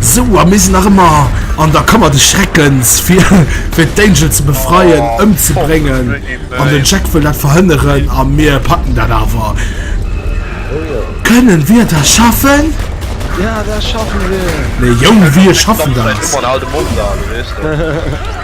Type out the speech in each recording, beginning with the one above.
Sou a mir sinn nach ëmmer an der Kammer des Schreckens fir fir d'Angel ze befreien, ëmzebréngen an den Jack wëll dat verhënneren a mir packen dat awer. Kënnen wir das schaffen? Ja, das schaffen wir. Nee Jong, wir schaffen das. Guck mal, den alten Mond da, du wéisst doch.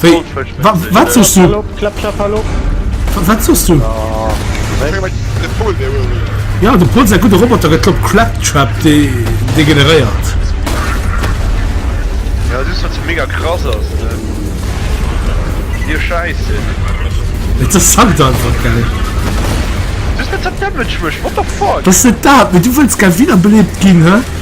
Wéi? Wa, wat soss du? Wa, wat soss du? Ja, de Pol sei gute Roboter gëtt op Claptrap de degeneréiert. Ja, du wat ze mega krass ass. Dir scheiße. Et ass Sankt einfach geil. Du wat ze damage mech, what the fuck? Was net dat, du wëlls gär wiederbelebt ginn, hä?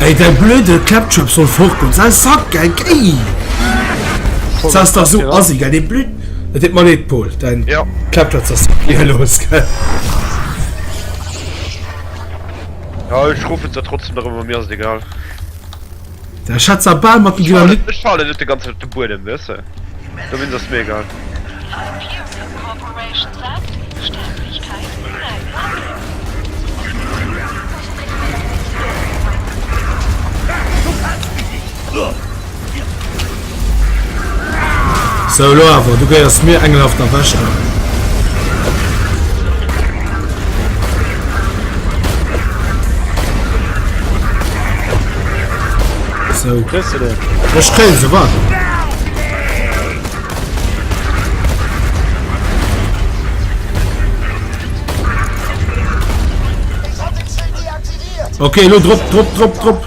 Ey däi blöde Ketchup soll fort goen, sei Sack ey gei! Sa ass dach sou assi gell, dee blöd. Et deet mer leed Paul, däin Ketchup ass eehelos gell. Ja ech ruffen se trotzdem nach ëmmer, mir ass et egal. Der Schatz a Ball mat dem Dynamit. Ech falle net de ganze Zeit op de Buedem, weißt du? Da bin das mir egal. Sou, elo awer, du gehéiers mir, engelhaft a wächter. Sou. Kriss du den? Ech krill se, wat? Okay, elo drop, drop, drop, drop.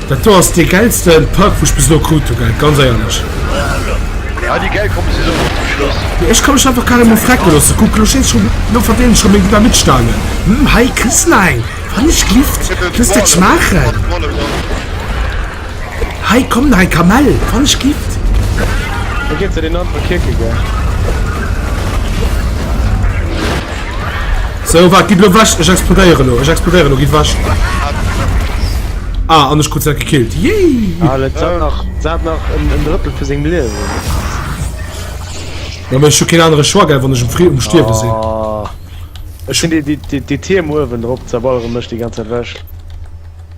Dat do ass dee gäilsten Park wou ech bis elo krut hun, gell, ganz éierlech. Ah déi gäil kommen si souguer zum Schluss. Mee ech ka mech einfach carrément frecken loossen. Kuck, lo schéngt schon, lo verdénen schon meng Dynamitstangen. Hm, hei kriss na eng, wann ech glift, looss dir d'schmaachen. Hei komm na eng Kamell, wann ech glift. Wou geet se den Nonn vu Kierkegaard? So waart, gidd lo wech, ech explodéiere lo, ech explodéiere lo, gidd wech. Ah, an ech krut se gekillt, yay! Alec, se hat nach, se hat nach en, en Drëttel vu sengem Liewen. Jo, mee ech hu keen anere Choix, gell, wann ech um Fri, um Stierwe sinn. Oh, ech hunn déi, déi, déi, déi Tierm uewen drop zerbalere mech déi ganz Zäit wech.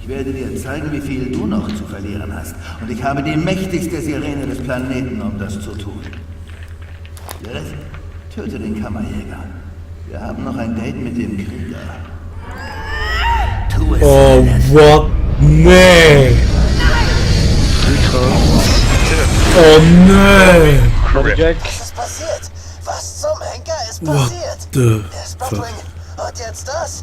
Ich werde dir zeigen, wie viel du noch zu verlieren hast und ich habe die mächtigste Sirene des Planeten, um das zu tun. Jetzt töte den Kammerjäger. Wir haben noch ein Date mit dem Krieger. Tu es, Oh, Dennis. what? Nee! Oh, nee! Credit Jack. Was ist passiert? Was zum Henker ist What passiert? the Der fuck? Spotwing hat jetzt das?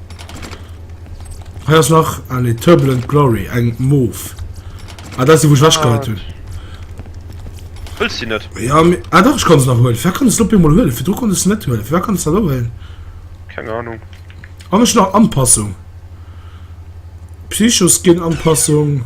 Hei ass nach alle Turbulent Glory eng Moof. Ah, dat ass déi, wou ech wechgeheit hunn. Huels de net? Ja, mir, ah dach, ech kann se nach huelen. Wär kann es op emol huelen? Virdru konnt ech se net huelen. Wär kann es dat huelen? Keng Ahnung. An ech nach Anpassung. Psychoskin Anpassung.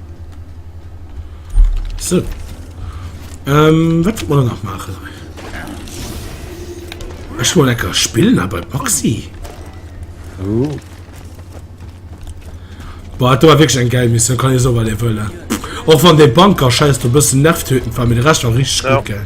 So. Ähm, was wollen wir noch machen? Ich wollte lecker spielen, aber Boxy. Oh. Boah, da war wirklich ein geil Mission, kann ich so weiter wollen. Auch von dem Banker scheiß du bist nervtötend, weil mir der Rest war richtig ja. gut, gell.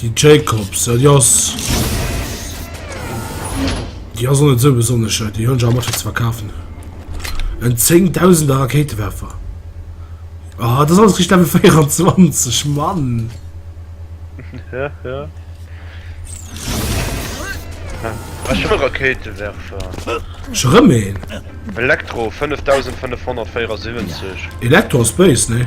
Déi Jacobs, ja déi ass, déi ass och net esou besonnesch schéin. Déi hunn ech awer mat fir ze verkafen. En zéngdausender Rakéitewerfer. Ah, dat ass alles richteg Level 24, Mann! Ech hu Rakéitewerfer. Ech erëm een. Elektro 5574. Elektro ass béis, nee?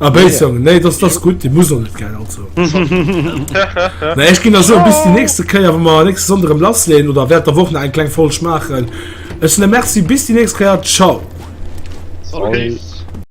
A ah, Béizong, nee. nee, das, das ist gut, die muss noch nicht gehen, also. Na, ich ging da so bis die nächste Keier, wenn wir nächste Sonntag im Lass lehnen, oder während der Woche noch einen kleinen Folsch machen. Ich sage Merci, bis die nächste Keier, ciao. Okay.